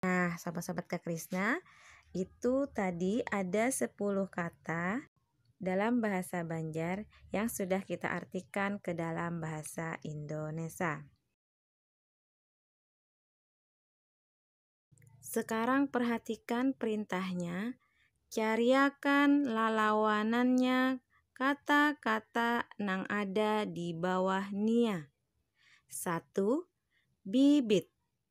Nah, sahabat-sahabat Kak Krisna, itu tadi ada 10 kata dalam bahasa Banjar yang sudah kita artikan ke dalam bahasa Indonesia. Sekarang perhatikan perintahnya, cariakan lalawanannya kata-kata nang ada di bawah nia. Satu, bibit.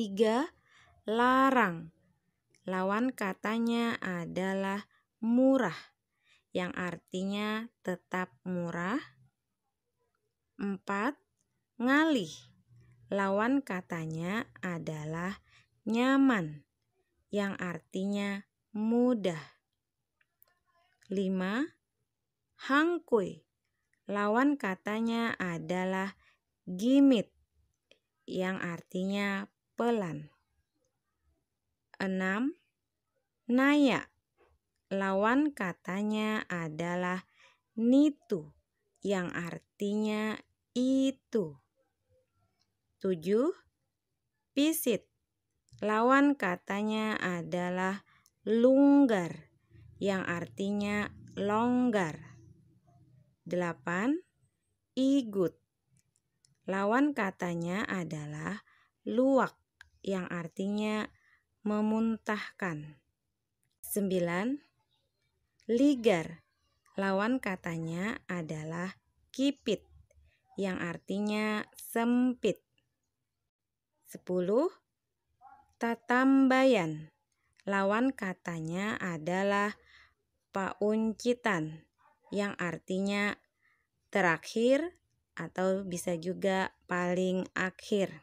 Tiga, larang. Lawan katanya adalah murah yang artinya tetap murah. Empat, ngalih. Lawan katanya adalah nyaman yang artinya mudah. Lima, hangkui. Lawan katanya adalah gimit yang artinya pelan. Enam, naya. Lawan katanya adalah nitu yang artinya itu. Tujuh, pisit lawan katanya adalah lunggar yang artinya longgar. 8. Igut lawan katanya adalah luwak yang artinya memuntahkan. Sembilan, ligar lawan katanya adalah kipit yang artinya sempit. Sepuluh, tatambayan lawan katanya adalah pauncitan yang artinya terakhir atau bisa juga paling akhir.